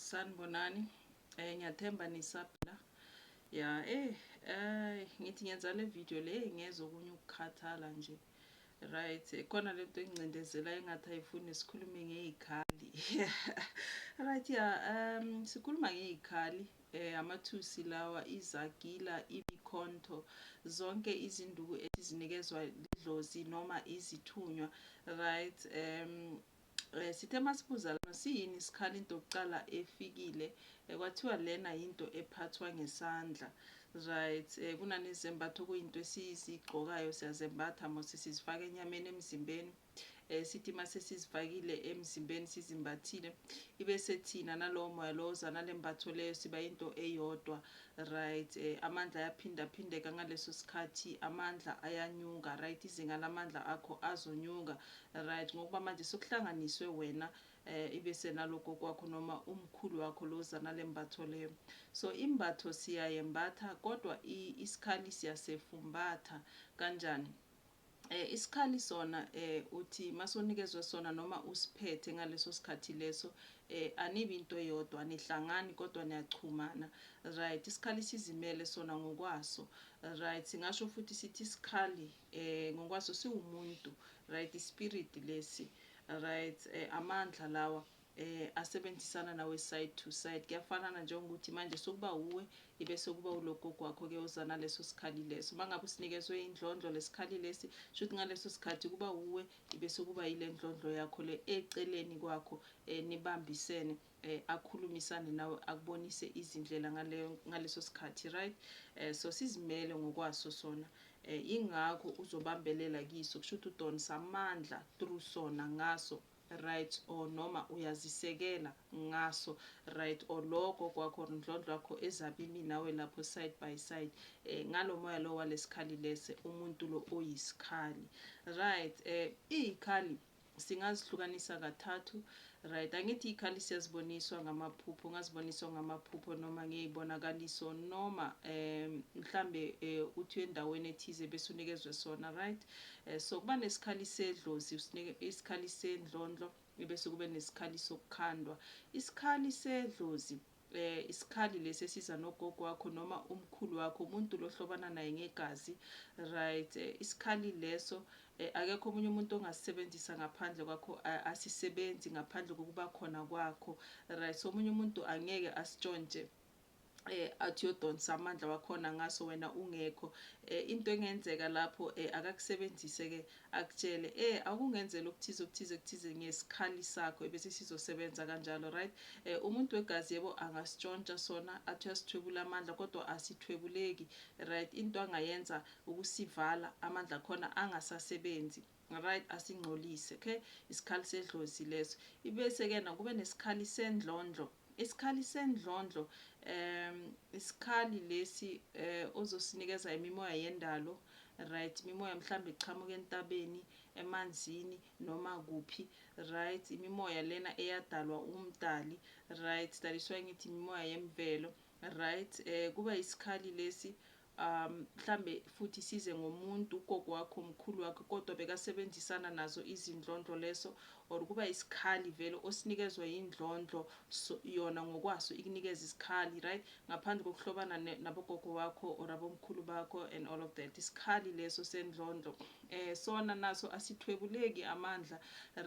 sanibonani eh ngiyathemba nisaphila ya eh eh ngithi ngenza le video le ngezwe okunye ukukhathala nje right khona lento engcindezela engathi ayifuni sikhulume ngezikhali right ya um sikhuluma ngezikhali Eh amathusi lawa izagila ibikhonto zonke izinduku esizinikezwa lidlozi noma izithunywa right um eh, sithe masibuza lana siyini sikhala into yokuqala efikile eh, kwathiwa lena yinto ephathwa ngesandla right eh, kunanezembatho kuyinto esizigqokayo siyazembatha mose sizifaka enyameni emzimbeni eh, sithi uma sesizifakile emzimbeni sizimbathile ibe sethina nalowo moya lowo oza nale mbatho leyo siba into eyodwa right eh, amandla ayaphindaphindeka ngaleso sikhathi amandla ayanyuka right izinga lamandla akho azonyuka right ngokuba manje sokuhlanganiswe wena eh ibe senaloko kwakho noma umkhulu wakho loza nale mbatho leyo so imbatho siyayembatha kodwa isikhali siyasefumbatha kanjani Eh isikhali sona eh uthi masonikezwe sona noma usiphethe ngaleso sikhathi leso eh anibi into eyodwa anihlangani kodwa niyachumana right isikhali sizimele sona ngokwaso right singasho futhi sithi isikhali eh ngokwaso siwumuntu right ispirit lesi right eh amandla lawa eh asebenzisana nawe side to side kuyafanana njengokuthi manje sokuba uwe ibese kuba ulogogo wakho ke uzana leso sikhali leso mangabe usinikezwe indlondlo lesikhali lesi shuthi ngaleso sikhathi kuba uwe ibese kuba ilendlondlo yakho le eceleni kwakho eh nibambisene eh akhulumisane nawe akubonise izindlela ngale ngaleso sikhathi right eh so sizimele ngokwaso sona eh ingakho uzobambelela kiso kushuthi udonsa amandla through sona ngaso right or noma uyazisekela ngaso right or lokho kwakho or ndlondlo yakho ezabe imi nawe lapho side by side eh ngalo moya lo walesikhali lese umuntu lo oyisikhali right eh izikhali singazihlukanisa kathathu right angithi ikhali siyaziboniswa ngamaphupho ngaziboniswa ngamaphupho noma ngeyibonakaliso noma um mhlambe eh, uthi endaweni ethize bese unikezwe sona right Eh, so kuba nesikhali sedlozi usinike isikhali sendlondlo bese kube nesikhali sokukhandwa isikhali sedlozi eh isikhali lesi esiza nogogo wakho noma umkhulu wakho umuntu lohlobana naye ngegazi right eh, isikhali leso eh, akekho omunye umuntu ongasisebenzisa ngaphandle kwakho asisebenzi ngaphandle kokuba khona kwakho right so omunye umuntu angeke asitshontshe eh athi yodonsa amandla wakhona ngaso wena ungekho eh into engenzeka lapho eh akakusebenzise ke akutshele eh akungenzela okuthize okuthize okuthize ngesikhali sakho ebese sizosebenza kanjalo right eh umuntu wegazi yebo angasitshontsha sona athi uyasithwebula amandla kodwa asithwebuleki right into angayenza ukusivala amandla khona angasasebenzi Right asingcolise okay isikhali sedlozi leso ibese ke na kube nesikhali sendlondlo isikhali sendlondlo um isikhali lesi eh ozosinikeza imimoya yendalo right imimoya mhlambe iqhamuka entabeni emanzini noma kuphi right imimoya lena eyadalwa umdali right that is why ngithi imimoya yemvelo right eh kuba isikhali lesi um mhlambe futhi size ngomuntu ugogo wakho umkhulu wakho kodwa bekasebenzisana nazo izindlondlo leso or kuba isikhali vele osinikezwa indlondlo so, yona ngokwaso ikunikeza isikhali right ngaphandle kokuhlobana nabogogo wakho or abomkhulu bakho and all of that isikhali leso sendlondlo eh sona naso asithwebuleki amandla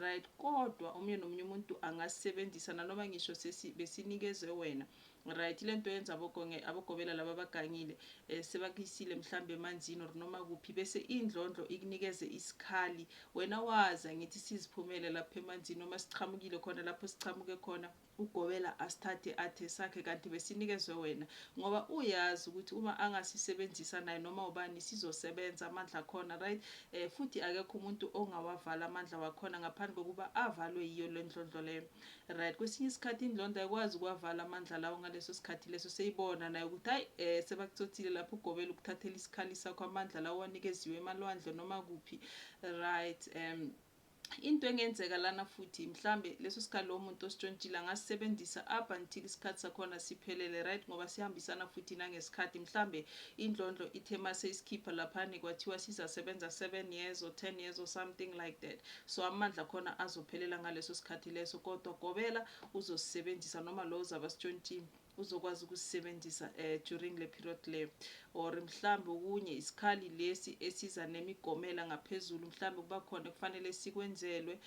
right kodwa omunye nomunye umuntu angasebenzisa nanoma ngisho sesi besinikezwe wena Right lento yenza abogonge abogobela laba abagangile eh, sebakuyisile mhlambe emanzini or noma kuphi bese indlondlo ikunikeze isikhali wena wazi angithi siziphumele lapha emanzini noma siqhamukile khona lapho siqhamuke khona ugobela asithathe athe sakhe kanti besinikezwe wena ngoba uyazi ukuthi uma angasisebenzisa naye noma ubani sizosebenza amandla khona right eh, futhi akekho umuntu ongawavala amandla wakhona ngaphandle kokuba avalwe yiyo le ndlondlo leyo Right kwesinye isikhathi indlonda ayikwazi ukuwavala amandla lawo ngaleso sikhathi leso seyibona nayo ukuthi hayi eh sebakuthothile lapho ugobela ukuthathela isikhali sakho amandla lawo wanikeziwe emalwandle noma kuphi right um into engenzeka lana futhi mhlambe leso sikhathi lowo muntu ositshontshile angasisebenzisa up until isikhathi sakhona siphelele right ngoba sihambisana futhi nangesikhathi mhlambe indlondlo ithe mase isikhipha laphani kwathiwa sizasebenza 7 years or 10 years or something like that So amandla akhona azophelela ngaleso sikhathi leso, kodwa gobela uzosisebenzisa noma lo ozabe asitshontshile uzokwazi ukusisebenzisa um during le period le or mhlambe okunye isikhali lesi esiza nemigomela ngaphezulu mhlambe kuba khona ekufanele sikwenzelwe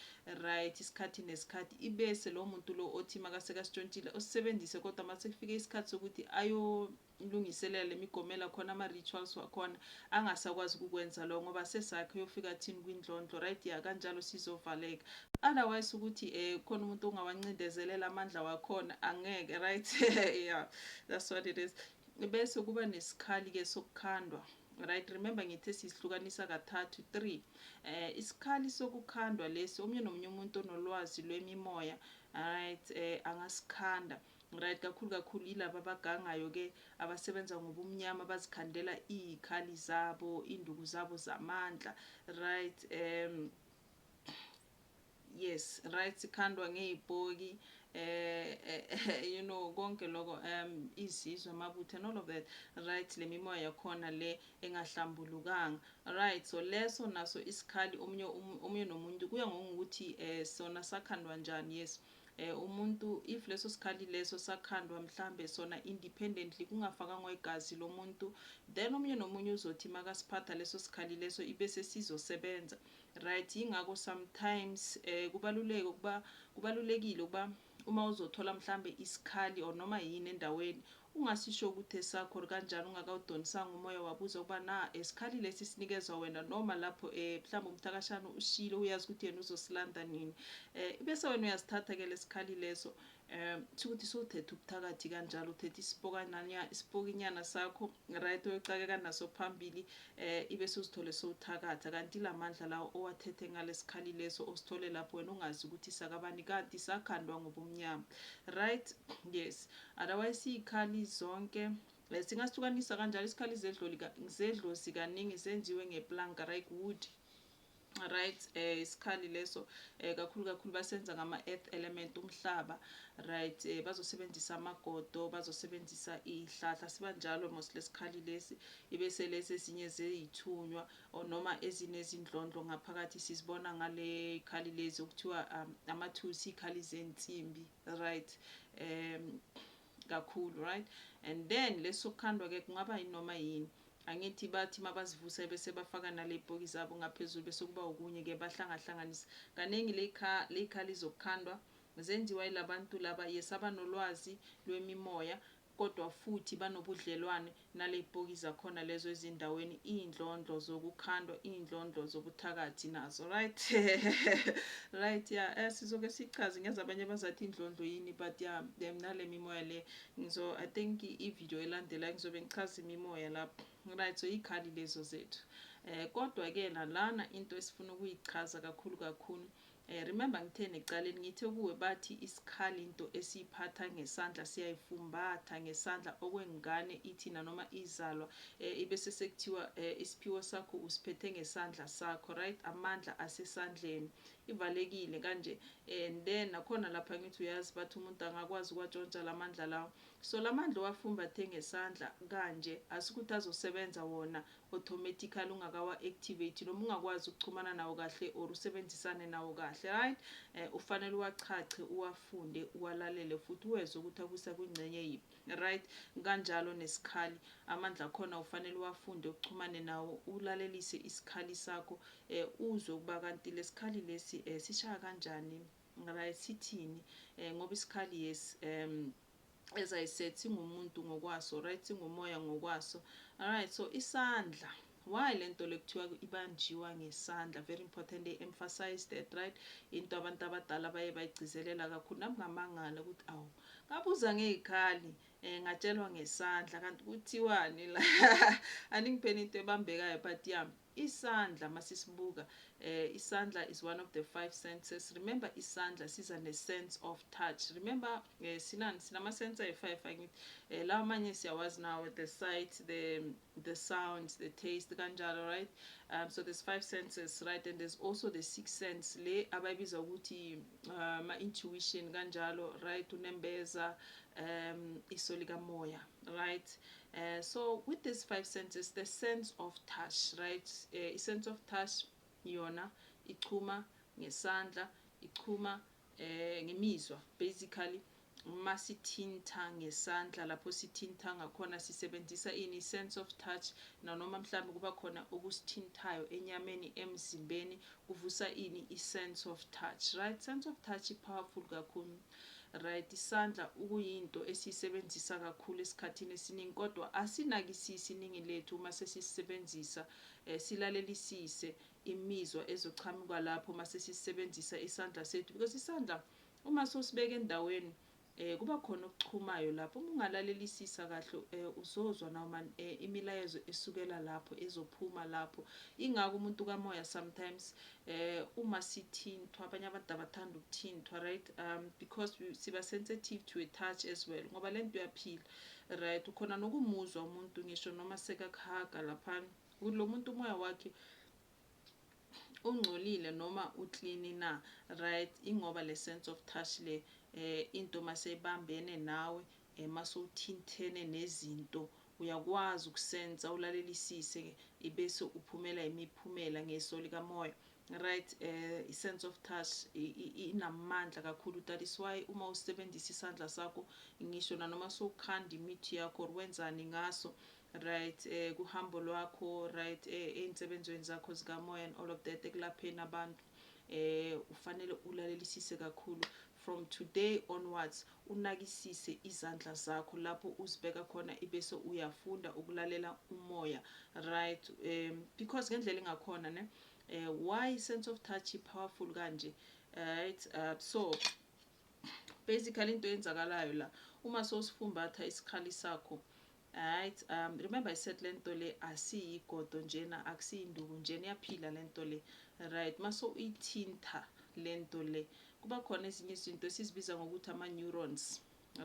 right isikhathi nesikhathi ibese lo muntu lo othi makaseka sitshontshile osisebenzise kodwa uma sekufike isikhathi sokuthi ayo Umlungiselela lemigomela khona ama rituals wakhona angasakwazi ukukwenza lokho ngoba sesakhe uyofika athini kwindlondlo right ya kanjalo sizovaleka otherwise ukuthi eh khona umuntu ongawancindezelela amandla wakhona angeke right yeah that's what it is bese kuba nesikhali ke sokukhandwa right remember ngithe sisihlukanisa kathathu 3 eh isikhali sokukhandwa lesi omunye nomunye umuntu onolwazi lwemimoya right eh angasikhanda Right kakhulu kakhulu yilaba abagangayo ke abasebenza ngobumnyama bazikhandela izikhali zabo induku zabo zamandla right um yes right sikhandwa ngezibhoki eh, eh, eh you know konke lokho um izizwe amabutho and all of that right le mimoya yakhona le engahlambulukanga right so leso naso isikhali omunye omunye nomuntu kuya ngokuthi eh sona sakhandwa njani yes eh, umuntu if leso sikhali leso sakhandwa mhlambe sona independently kungafakangwa igazi lomuntu then omunye nomunye uzothi makasiphatha leso sikhali leso ibe sesizosebenza right ingakho sometimes eh kubaluleke ukuba kubalulekile ukuba uma uzothola mhlambe isikhali or noma yini endaweni Ungasisho ukuthi esakho or kanjani ungakawudonisanga umoya wabuza ukuba na esikhali lesi sinikezwa wena noma lapho e mhlawumbe umthakashana ushilo uyazi ukuthi yena uzosilanda nini e bese wena uyasithatha ke lesikhali leso e shukuthi sowuthethe ubuthakathi kanjalo uthethe isipokananya isipokinyana sakho right oyocakeka naso phambili e ibe suzithole sowuthakatha kanti lamandla lawo owathethe ngalesikhali leso osithole lapho wena ungazi ukuthi sakabani kanti sakhandwa ngobumnyama right yes Otherwise siyikhali zonke singasukanisa kanjalo isikhali zedloli zedlozi kaningi zenziwe ngeplanka right wood right eh isikhali leso eh kakhulu kakhulu basenza ngama earth element umhlaba right eh bazosebenzisa amagodo bazosebenzisa ihlahla siba njalo mos lesikhali lesi ibe selesi ezinye zeyithunywa noma ezinezindlondlo ngaphakathi sizibona ngale khali lezi okuthiwa um, amathusi ikhali zensimbi Right um kakhulu right and then lesokukhandwa ke kungaba yinoma yini angithi bathi mabazivuse bese bafaka naley'poki zabo ngaphezulu bese kuba okunye ke bahlangahlanganisa kaningi ley'khali zokukhandwa zenziwa yilabantu laba yes abanolwazi lwemimoya kodwa futhi banobudlelwane naleypoki zakhona lezo ezindaweni iyndlondlo zokukhandwa iyndlondlo zobuthakathi nazo right right ya eh sizoke sichaze ngyazi abanye bazathi indlondlo yini but ya em nalemimoya le ngizo i think ivideo elandelayo ngizobe ngichaza imimoya lapho right so ikhali lezo zethu eh kodwa ke nalana into esifuna ukuyichaza kakhulu kakhulu Eh remember ngitheni ekuqaleni ngithe kuwe bathi isikhali into esiyiphatha ngesandla siyayifumbatha ngesandla okwengane ithi nanoma izalwa eh ibese sekuthiwa eh isiphiwo sakho usiphethe ngesandla sakho right amandla asesandleni ivalekile kanje and then nakhona lapha ngithi uyazi bathi umuntu angakwazi kwatshontsha lamandla lawo so lamandla owafumbathe ngesandla kanje asikuthi azosebenza wona automatically ungakawa activate noma ungakwazi ukuxhumana nawo kahle or usebenzisane nawo kahle right eh, ufanele uwachache uwafunde uwalalele futhi uwezwe ukuthi akusa kwingcenye yiphi right kanjalo nesikhali amandla akhona ufanele uwafunde uxhumane nawo ulalelise isikhali sakho eh, uzwe ukuba kanti lesikhali lesi eh, sishaya kanjani right sithini eh, ngoba isikhali yes um, as i said singumuntu ngokwaso right singumoya ngokwaso alright so isandla why le nto lekuthiwa ibanjiwa ngesandla very important they emphasize that right into abantu abadala baye bayigcizelela kakhulu nami ngamangala ukuthi awu ngabuza ngey'khali um eh, ngatshelwa ngesandla kanti kuthiwani la aningipeni into ebambekayo but ya Isandla masisibuka isandla is one of the five senses remember isandla siza ne sense of touch remember sinani sinama sense ayi five angithi lawa manye siyawazi nawo the sight the the sound the taste kanjalo right um, so there's five senses right and there's also the six sense le abayibiza ukuthi ama uh, intuition kanjalo right unembeza um iso likamoya right Uh, so with these five senses, the sense of touch, right? Uh, sense of touch yona ichuma ngesandla, ichuma eh ngemizwa basically uma sithinta ngesandla lapho sithinta ngakhona sisebenzisa ini sense of touch nanoma mhlawumbe kuba khona okusithintayo enyameni emzimbeni kuvusa ini i-sense of touch right sense of touch i-powerful kakhulu Right, isandla ukuyinto esiyisebenzisa kakhulu esikhathini esiningi kodwa asinakisisi iningi lethu uma sesisebenzisa eh, silalelisise imizwa ezochamuka lapho uma sesisebenzisa isandla sethu because isandla uma sosibeka endaweni eh kuba khona okuchumayo lapho uma ungalalelisisa kahle eh, uzozwa noma eh, imilayezo esukela lapho ezophuma lapho ingako umuntu kamoya sometimes um uma sithinthwa abanye abantu abathanda ukuthinthwa right um because siba sensitive to a touch as well ngoba le nto uyaphila right ukhona nokumuzwa umuntu ngisho noma sekakuhaga laphana ukuthi lo muntu umoya wakhe ungcolile noma uklini na right ingoba le sense of touch le eh into maseyibambene nawe Uma sowuthinthene nezinto uyakwazi ukusensa ulalelisise ibese uphumela imiphumela ngeso likamoya right eh, i sense of touch inamandla kakhulu that is why uma usebenzisa isandla sakho ngisho nanoma sowukhanda imithi yakho or wenzani ngaso right eh, kuhambo lwakho right eh, ey'nsebenzweni zakho zikamoya and all of that ekulapheni abantu eh ufanele ulalelisise kakhulu from today onwards Unakisise izandla zakho lapho uzibeka khona ibese uyafunda ukulalela umoya right um because ngendlela engakhona ne uh, why sense of touch powerful kanje right uh, so basically into yenzakalayo la uma sosifumbatha isikhali sakho Right um remember I said lento le asiyigodo njena akusiyinduku njena iyaphila lento le right maso uyithinta lento le kuba khona ezinye izinto esizibiza ngokuthi ama neurons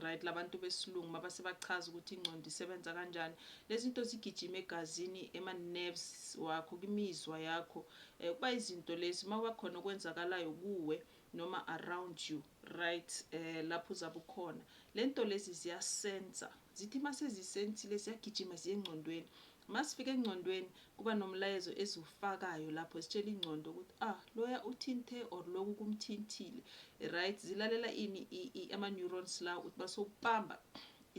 right labantu besilungu mabase bachaza ukuthi ingqondo isebenza kanjani lezinto zigijima egazini ema nerves wakho kimizwa yakho eh, kuba izinto lezi mawakhona okwenzakalayo kuwe noma around you Right eh lapho uzabe ukhona lento lezi ziyasensa zithi masezisensile ziyagijima ziye engcondweni masifika engcondweni kuba nomlayezo eziwufakayo lapho zitshela ingcondo ukuthi ah loya uthinte or loku kumthintile right zilalela ini ama neurons lawo ukuthi basokubamba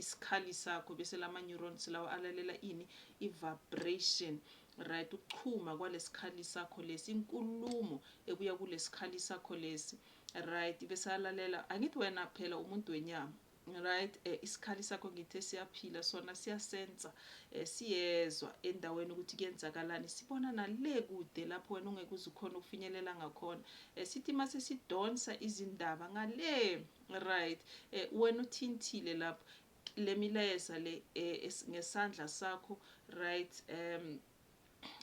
isikhali sakho bese lama neurons lawo alalela ini i vibration right ukuchuma kwalesikhali sakho lesi inkulumo ebuya kulesikhali sakho lesi Right besalalela angithi wena phela umuntu wenyama right eh, isikhali sakho ngithe siyaphila sona siyasensa eh, siyezwa endaweni ukuthi kuyenzakalani sibona nale kude lapho wena ungeke uze ukhona ukufinyelela ngakhona eh, sithi uma sesidonsa izindaba ngale right eh, wena uthintile lapho le milayeza le eh, ngesandla sakho right um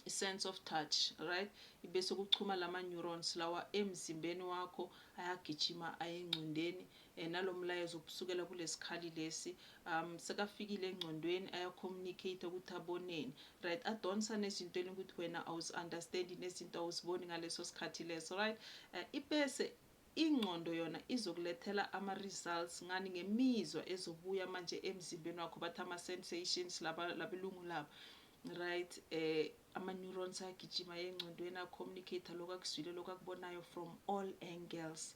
sense of touch right ibese kuchuma lama neurons lawa emzimbeni wakho ayagijima ayengcondweni eh, nalomlayezo ubusukela kulesikhali lesi um sekafikile engcondweni aya communicate ukuthi aboneni right adonsa nezinto elingukuthi wena awuzi understand nezinto awuziboni ngaleso sikhathi leso right eh, ibese ingqondo yona izokulethela ama-results ngani ngemizwa ezobuya manje emzimbeni wakho bathi ama-sensations labelungu laba Right um ama neurons agijima engcondweni a communicator lokho akuzwile lokho akubonayo from all angles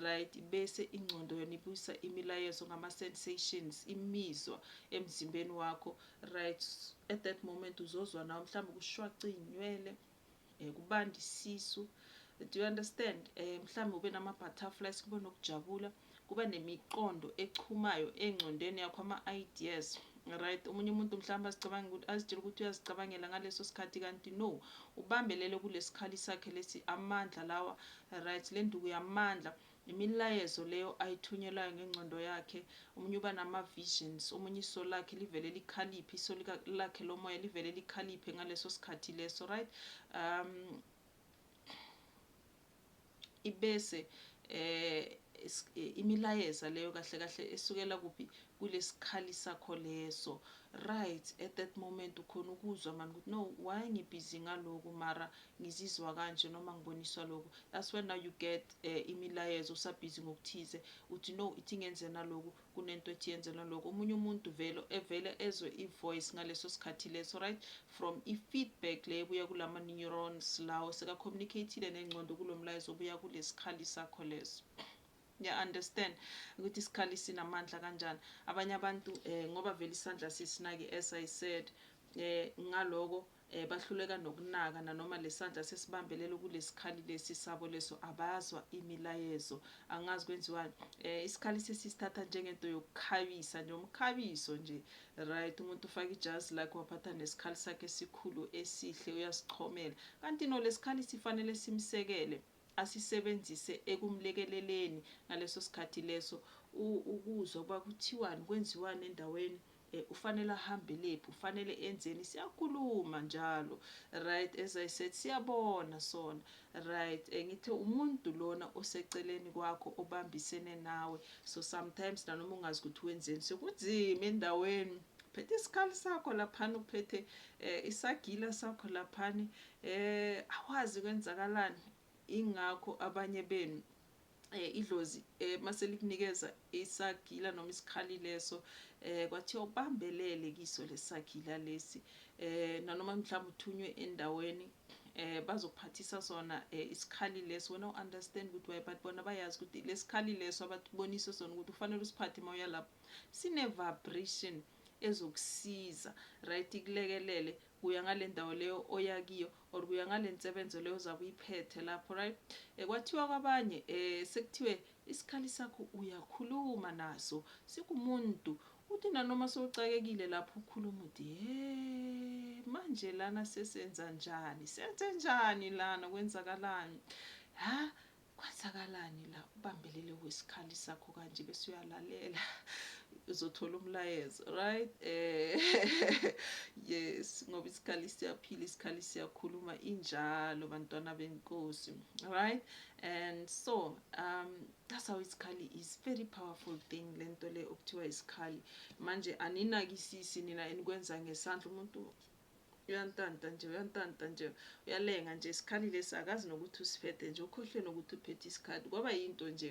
right bese ingcondo yona ibuyisa imilayezo ngama sensations imizwa emzimbeni wakho right at that moment uzozwa nawo mhlawumbe kushwaca izinywele um kubanda isisu do you understand um mhlawumbe ube nama-butterflies kube nokujabula kuba nemiqondo echumayo engcondweni yakho ama-ideas right omunye umuntu mhlawumbe azicabanga ukuthi azitshela ukuthi uyazicabangela ngaleso sikhathi kanti no ubambelele kulesikhali sakhe lesi amandla lawa right le nduku yamandla Imilayezo leyo ayithunyelwayo ngengcondo yakhe, omunye uba nama visions, omunye iso lakhe livele likhaliphe, iso lakhe lomoya livele likhaliphe ngaleso sikhathi leso, right? Um, ibese eh Eh, imilayeza leyo kahle kahle esukela kuphi kulesikhali sakho leso right at that moment ukhona ukuzwa mani ukuthi no why ngibhizi ngaloku mara ngizizwa kanje noma ngiboniswa lokhu that's when now you get uh, imilayezo usabhizi ngokuthize uthi no ithi ngenzena lokhu kunento ethi yenzena lokhu omunye umuntu vele evele ezwe i-voice ngaleso sikhathi leso right from i-feedback le ebuya kulama-neurons lawo seka-communicatile nengcondo kulo mlayezo obuya kulesikhali sakho leso ngiya-understand ukuthi isikhali sinamandla kanjani abanye abantu um ngoba vele isandla sisinaki as i said um ngaloko eh, bahluleka nokunaka nanoma lesandla sesibambelele kulesikhali lesi sabo leso abazwa imilayezo angazi kwenziwani eh isikhali sesisithatha njengento yokukhabisa nje umkhabiso nje right umuntu ufaka ijazi lakhe waphatha nesikhali sakhe esikhulu esihle uyasichomela kanti no lesikhali sifanele simsekele asisebenzise ekumlekeleleni ngaleso sikhathi leso ukuzwa ukuba kuthiwani kwenziwani endaweni eh, ufanele ahambelephi ufanele enzeni siyakhuluma njalo right as i said siyabona sona right eh, ngithe umuntu lona oseceleni kwakho obambisene nawe so sometimes nanoma ungazi ukuthi wenzeni sekunzima endaweni phethe isikhali sakho laphana uphethe eh, isagila sakho laphana Eh awazi kwenzakalani ingakho abanye benu eh idlozi eh mase likunikeza isagila noma isikhali leso eh kwathiwa ubambelele kiso lesagila lesi eh nanoma mhlawumbe uthunywe endaweni eh bazokuphathisa sona eh, isikhali leso wena uunderstand ukuthi why but bona bayazi ukuthi lesikhali leso abatubonise sona ukuthi ufanele usiphathe uma uya lapho sine vibration ezokusiza right ikulekelele kuya ngalendawo leyo oya kiyo or kuya ngalensebenzo leyo ozabe uyiphethe lapho right eh, kwathiwa kwabanye eh sekuthiwe isikhali sakho uyakhuluma naso sikumuntu uthi nanoma sowucakekile lapho ukhuluma uthi he manje lana sesenza njani senze njani lana kwenzakalani ha Kwenzakalani la ubambelele wesikhali sakho kanje bese uyalalela uzothola umlayezo right eh yes ngoba isikhali siyaphila isikhali siyakhuluma injalo bantwana benkosi right and so um that's how isikhali is very powerful thing lento le okuthiwa isikhali manje aninakisisi nina enikwenza ngesandla umuntu uyantanta nje uyantanta nje uyalenga nje isikhali lesi akazi nokuthi usiphethe nje ukhohlwe nokuthi uphethe isikhali kwaba yinto nje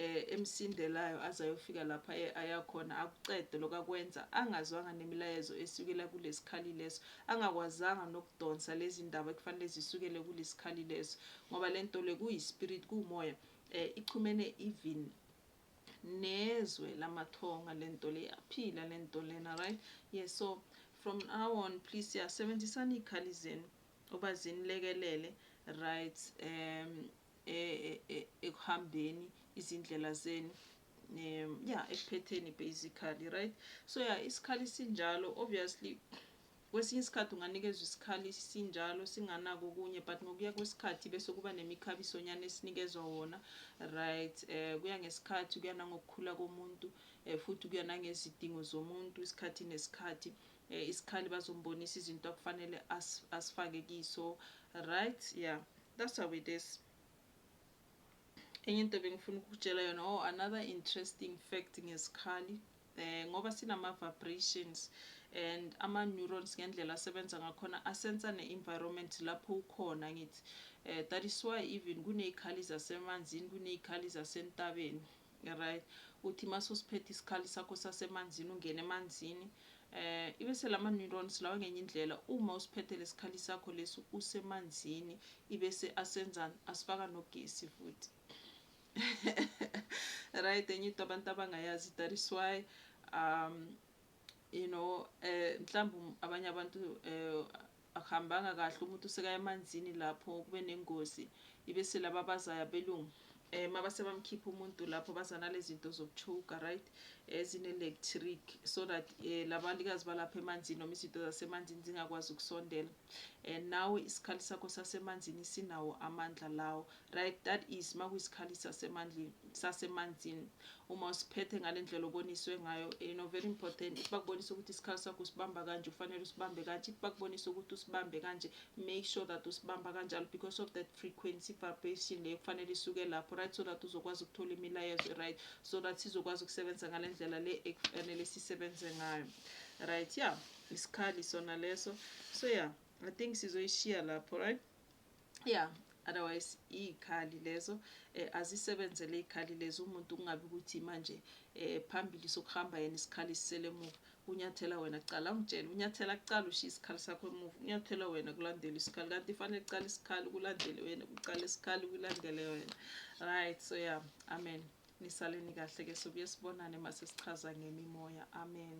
eh emsindelayo aze ayofika lapha eh, ayakhona akuqede lokakwenza angazwanga nemilayezo esukela kulesikhali leso angakwazanga nokudonsa lezi ndaba ekufanele zisukele kulesikhali leso ngoba lento le kuyispirit kuumoya eh ichumene even nezwe lamathonga lento le yaphila lento lena right yes so from now on please siyasebenzisana iy'khali zenu uba zinilekelele right um e, e, e, ekuhambeni izindlela zenu um ya ekuphetheni basically right so ya isikhali sinjalo obviously Kwesinye isikhathi unganikezwa isikhali sinjalo singanako okunye but ngokuya kwesikhathi bese kuba nemikhabisonyana esinikezwa wona right um kuya ngesikhathi kuya nangokukhula komuntu um futhi kuya nangezidingo zomuntu isikhathi nesikhathi um isikhali bazombonisa izinto akufanele as, asifake kiso right yeah that's how it is enye into bengifuna ukukutshela yona oh another interesting fact ngesikhali um ngoba sinama vibrations and ama neurons ngendlela asebenza ngakhona asensa ne environment lapho ukhona ngithi um that is why even kunezikhali zasemanzini kunezikhali zasentabeni right uthi mase usiphethe isikhali sakho sasemanzini ungene emanzini eh ibe selama neurons lawa ngenye indlela uma usiphethe lesikhali sakho lesi usemanzini ibe se asenzani asifaka nogesi futhi right enye into abantu abangayazi that is why um you know eh mhlawumbe um, abanye abantu eh akuhambanga kahle umuntu usekaya emanzini lapho kube nengozi ibe selaba bazayo abelungu eh mabase bamkhipha umuntu lapho bazana lezinto zokuchuka right ezine eh, electric so that eh labalikazi balapha emanzini noma izinto zasemanzini zingakwazi ukusondela and eh, nawe isikhali sakho sasemanzini sinawo amandla lawo Right that is makuyisikhali sasemandleni sasemanzini uma usiphethe ngalendlela oboniswe ngayo you eh, know very important if bakubonisa ukuthi isikhali sakho usibamba kanje ufanele usibambe kanje if bakubonisa ukuthi usibambe kanje make sure that usibamba kanjalo because of that frequency vibration leyo kufanele isuke lapho right so that uzokwazi ukuthola imilayezo right so that sizokwazi ukusebenza ngalendlela le ekufanele sisebenze ngayo right yeah isikhali sona leso so yeah i think sizoyishiya lapho right ya otherwise iy'khali lezo eh, azisebenzele iy'khali lezi umuntu kungabi ukuthi manje eh, phambili sokuhamba yena isikhali sisele emuva unyathela wena kuqala ungitshele unyathela kuqala ushiye isikhali sakho emuva unyathela wena kulandela isikhali kanti ifanele kuqala isikhali kulandele wena kuqala isikhali kulandele wena right so ya yeah. amen nisaleni kahle ke sobuye sibonane masesichaza ngemimoya amen